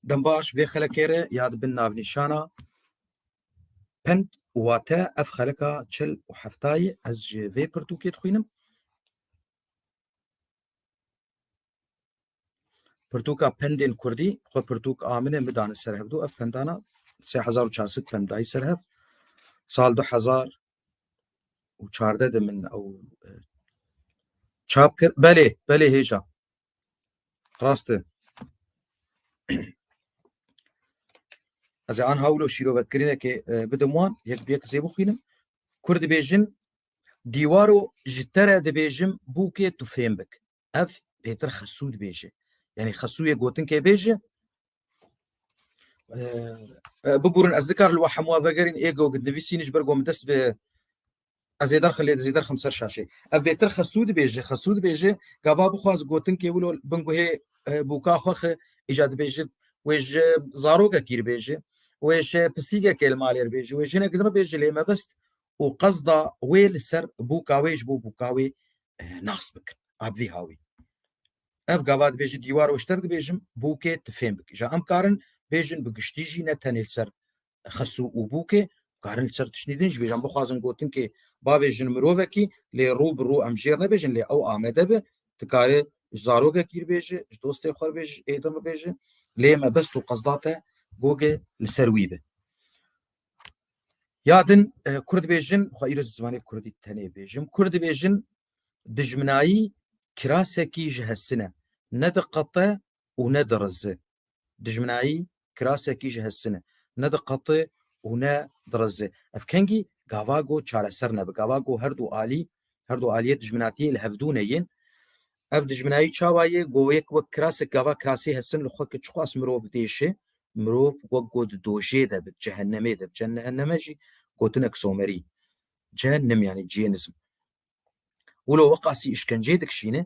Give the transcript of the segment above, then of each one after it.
Dembaş vê xelekê re ya dibin navnîşana pend û wate ev xeleka çil û heftayê ez ji vê pirtûkê dixwînim. Pirtûka pendên Kurdî xwe pirtûk a min e min dane ser hevdû ev pendana sê hezar û çar sed pend dayî ser hev sal du hezar û çardeh de min ew çap kir belê belê hêja Rast e. Ez ê an hawlo şîrovetkirînekê e, bidim wan yek bi yek zê bixwînim. Kur dibêjin dîwaro ji te re dibêjim bûkê tu fêm bik. Ev pêtir xesû dibêje. Yanî xesûyê gotinkê bêje e, e, bibûrin ez dikar li we hemû vegerîn êgo nivîsîn ji ber ku min dest bi Ez ê derxê lê dizî derxim ser şaşê. Ev bêtir xesû dibêje, xesû dibêje, gava bixwaz gotinkê wilo bin guhê e, bûka xwe xi îca dibêje wê ji zarokekî re bêje, wê ji pisîgekê li malê re bêje, wê jinek din re bêje lê mebist û qesda wê li ser bûka wê ji bo bûka wê e, nas bikin. Ev vî hawî. Ev gava dibêje dîwar weşter dibêjim bûkê tifêm bike. Ja em karin bêjin bi giştî jî ne tenê li ser xesû û bûkê karin li ser tiştî din ji bêjan bixwazin gotin kê bavê jin mirovekî lê rû bi rû em jêr nebêjin lê ew amede bi dikare ji zarokekî re bêje ji dostê xwe re bêje ji êdin re bêje lê mebest û qezda te gogê li ser wî bi ya din kurd bêjin xwe îro zimanê kurdî tenê bêjim kurd bêjin dijminayî kirasekî ji hesine ne diqete û ne dirizi. Dijminayî kirasekî ji hesine ne diqeti û ne dirizi. Ev kengî gava ku çareser nebe. Gava ku her du alî, her du aliyê dijminatiyê li hev dûne yên. Ev dijminayî çawa yê? Ku yek wek kirasek gava kirasî hesin li xwe ki çiqas mirov diêşe, mirov wek ku di dojê de bi, di cehennemê de bi. Cehenneme jî gotinek somerî. Cehennem yanî cihênizm. Wilo weqasî îşkenceyê dikişîne,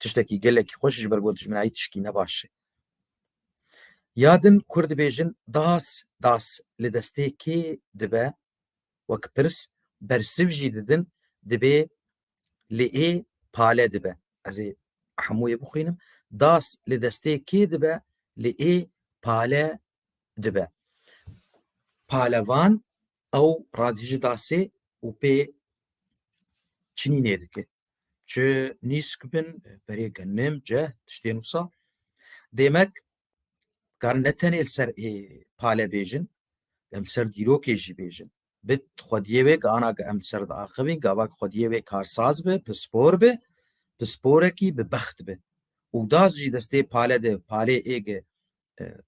tiştekî gelekî xweş ji ber ku dijminayî tişkî ne baş e. Ya din kur dibêjin das das li destê kê dibe wek pirs bersiv jî didin dibê li ê pale dibe. Ez ê hemû yê bixwînim. Das li destê kê dibe li ê pale dibe. Palevan ew radijî dasê û pê çinînê dike. Çi nîsk bin berê ke nêm ce tiştê nûsa. Dêmek karin ne tenê li ser ê pale bêjin, em li ser dîrokê jî bêjin. Bi xwediyê wê ke ana ke em li ser diaxivîn gava ke xwediyê wê karsaz bi, pispor bi, pisporekî bi bext bi. Û das jî destê pale de, palê ê ge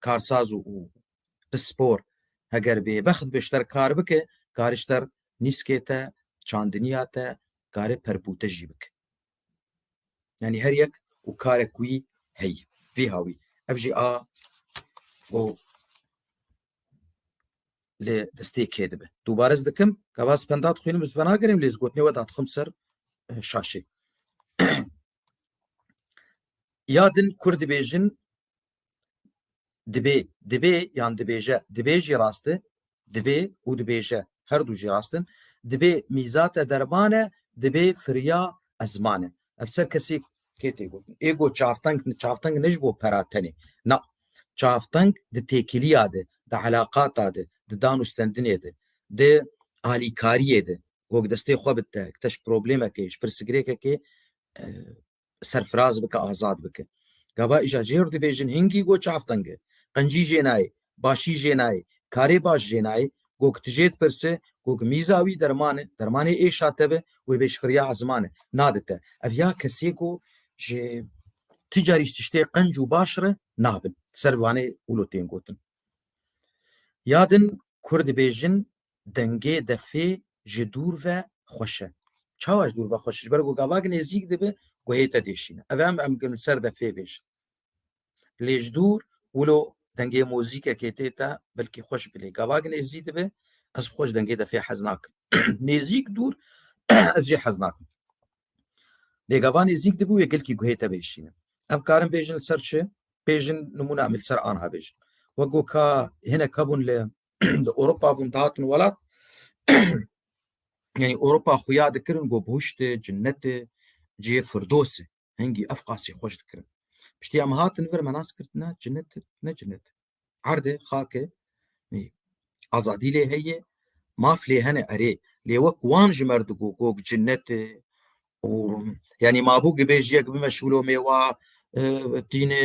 karsaz û pispor heger bêbext bi ji ter kar bike, karê ji ter nîskê te, çandiniya te, karê perpû te jî bike. Yanî her yek û karek wî heye. Vî hawî ev jî a û lê destê kê dibe. Dubare ez dikim ka vas penda dixwînim ez venagirim lê ez gotinê we dadixim ser e, şaşê. Ya din kur dibêjin Dibê, dibê yan dibêje, dibê jî rast e, dibê û dibêje her du jî rast in. Dibê mîzate derman e, dibê firiya ezman e. Ev ser kesî kê tê gotin? Ê got çavteng, çavteng ne ji bo pera tenê. Na, çavteng di têkiliya de, di elaqata de, di dan û stendinê de, di alîkariyê de, gog destê xwe bidite, bikite ji problemekê, ji pirsigirêkekê serfiraz bike azad bike. Gava îja jêr dibêjin hingî go çavtenge. Qencî jê nayê, başî jê nayê, karê baş jê nayê, go ki tu jê dipirse, go ki mîza wî derman e, dermanê êşa te be, wê bê ji firya ziman e, nade te. Ev ya kesê ku ji tu carî ji tiştê qenc û baş re nabin. Ser vanê wilo tên gotin. Ya din kur dibêjin dengê defê ji dûr ve xweş e. Çawa ji dûr ve xweş ji ber ku gavak nêzîk dibe guhê te dêşîne. Ev em em kin ser defê bêjin. Lê ji dûr wilo dengê mozîkekê tê te belkî xweş bi lê gavak nêzî dibe ez bi xweş dengê defê hez nakim. nêzîk dûr ez jê hez nakim. Lê gava nêzîk dibû wê gelkî guhê te bêşîne. Ev karin bêjin li ser çi? Bêjin nimûna em li ser anha bêjin. Wek ku ka hinek hebûn li di Ewropa bûn dihatin welat yani Ewropa xuya dikirin got bûşti cinneti cihê firdosê hingî ev qasî xweş dikirin piştî em hatin vir me nas kirdine cinnet ne cinnet erdê xakê azadî lê heye maf lê hene erê lê wek wan ji mer digo gog cinnetê û yanî mabû gibêjiyek bimeşûlo mêwa tînê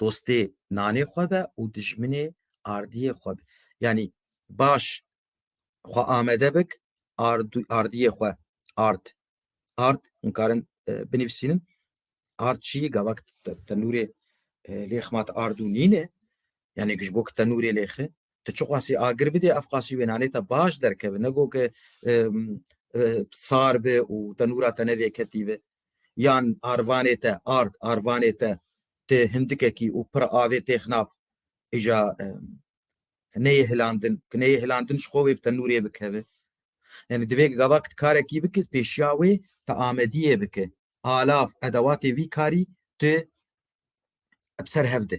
dostê nanê xwe be û dijminê ardiyê xwe be. Yanî baş xwe amede bik ardiyê xwe ard. Ard hûn karin binivîsînin ard çiyî gavak tenûrê lê xema te ard û nîn e. Yanî ji bo ku tenûrê lê xi tu çi qasî agir bidê ev qasî wê nanê te baş derkeve. Ne got ke sar be û tenûra te ne vêketî be. yan arvanê te ard arvanê te ti hindikekî û pir avê têx nav îja neyê hilandin ki neyê hilandin ji xwe wê bi te nûrê bikeve yani divê gavak karekî bike pêşiya wê te amediyê bike alav edewatê vî karî tu bi ser hev de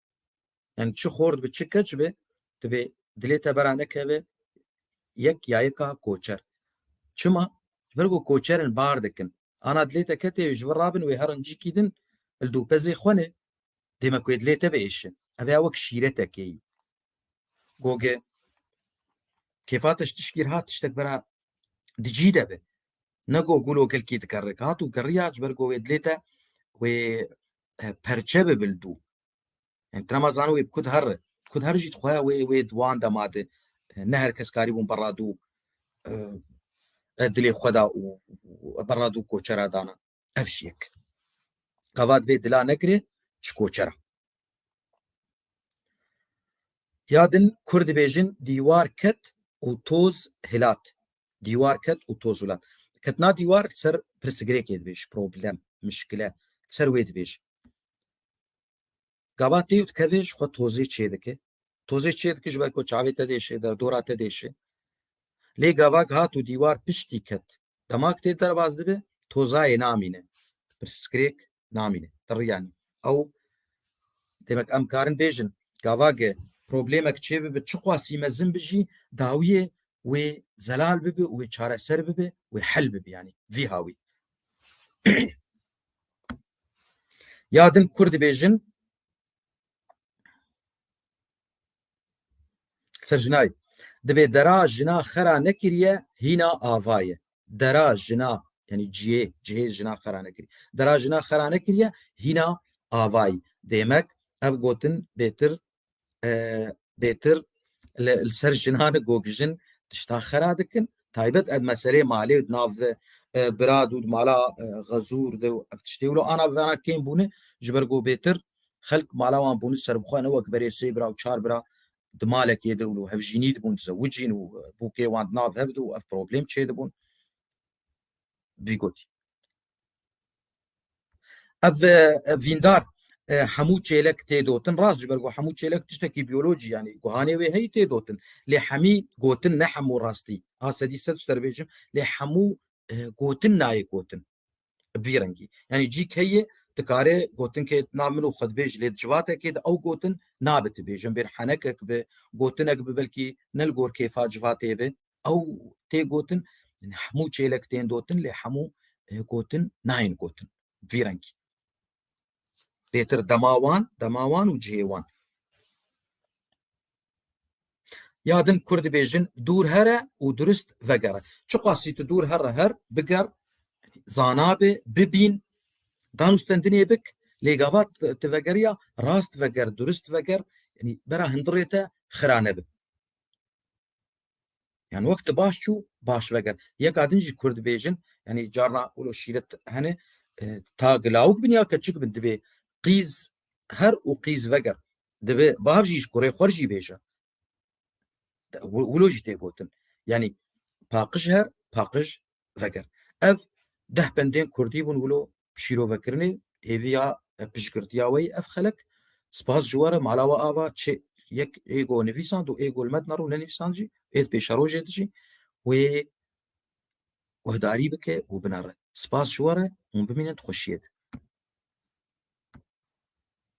yani çi xor dibe çi keç be dibe dilê te bera nekeve yek ya yeka koçer çima ber ku koçerin bar dikin ana dilê te ketê ji vir rabin wê herin cî kîdin li dûpezê xwe ne dême ku dilê te biêşin ev ya wek şîretekê yî goge kêfa te ji tişkî hat tiştek bera dijî de be ne go gûlo gelkî dikerrek hat û kerriya ji ber ku wê dilê te wê perçe bi bil dû. Yani trema zano wê kud her kud her jî dixwe wê wê wan de made ne her kes karî bûn berra dû dilê xwe da û berra dû koçera dana. Ev jî yek. Gavat vê dila nekirê çi koçera. Ya din kur dibêjin dîwar ket û toz hilat. Dîwar ket û toz û lat. Ketina dîwar li ser pirsgirêkê dibêj, problem, muşkile, li ser wê dibêj. Gava tê û dikeve ji xwe tozê çê dike. Tozê çê dike ji ber ku çavê te diêşe, derdora te diêşe. Lê gavak hat û dîwar piştî ket. Dema ku tê derbas dibe, tozayê namîne. Pirsgirêk namîne. Ti riya nî. Ew demek em karin bêjin gavage problemek çê bibe çiqasî mezin bi jî dawiyê wê zelal bibe û wê çareser bibe wê hel bibe yanî vî hawî. Ya din kur dibêjin Serjinay, dibê dera jina xera nekiriye hîna ava ye. Dera jina yanî cihê, cihê jina xera nekirî. Dera jina xera nekiriye hîna avayî. Dêmek ev gotin bêtir e, bêtir li ser jinan gogijin tişta xera dikin. Taybet ed meselê malê û nav e, birad û mala e, xezûr de û ev tiştê wilo ana bivana kêm bûne ji ber ku bêtir Xelk mala wan bûn û serbixwe ne wek berê sê bira û çar bira di malekê de û li hevjînî dibûn dizewicîn û bûkê wan di nav hev de û ev problem çêdibûn. Vî gotî. Ev vîndar hemû çêlek têdotin rast ji ber ku hemû çêlek tiştekî biyolojî yanî guhanê wê heyî têdotin lê hemî gotin ne hemû rastî a sedî sed ji te re bêjim lê hemû gotin nayê gotin Bi vî rengî. Yanî cî key ye dikarê gotin ke na min û xwe dibêj lê di civatekê de ew gotin nabe tu bêjin bêr henekek bi, gotinek bi belkî ne li gor kêfa civatê be ew tê gotin. Yanî hemû çêlek tên dotin lê hemû gotin nayên gotin. Bi vî rengî. pêtir dema wan dema wan û cihê wan ya din kur dibêjin dûr here û durist vegere çiqasî tu dûr here her biger zanabê bibîn danûstendinê bik lê gava tu vegeriya rast veger durist veger bera hindirê te xira nebe Yani wexti baş çû baş veger. Yeka din jî Kurd bêjin yani carna ulo şîret hene e, ta gilawik bin ya keçik bin divê qîz her û qîz veger. Divê bav jî ji kurê xwer jî bêje. Ulo jî tê gotin. Yani paqij her paqij veger. Ev deh bendên Kurdî bûn ulo şîrovekirinê hêvî ya piştgirtiya wê ev xelek spas ji we re mala we ava çê yek êgo nivîsand û êgo li me dina rû nenivîsand jî êd pêşerojê di jî wê guhdarî bike û bine re spas ji we re hûn bimînin di xweşiyê de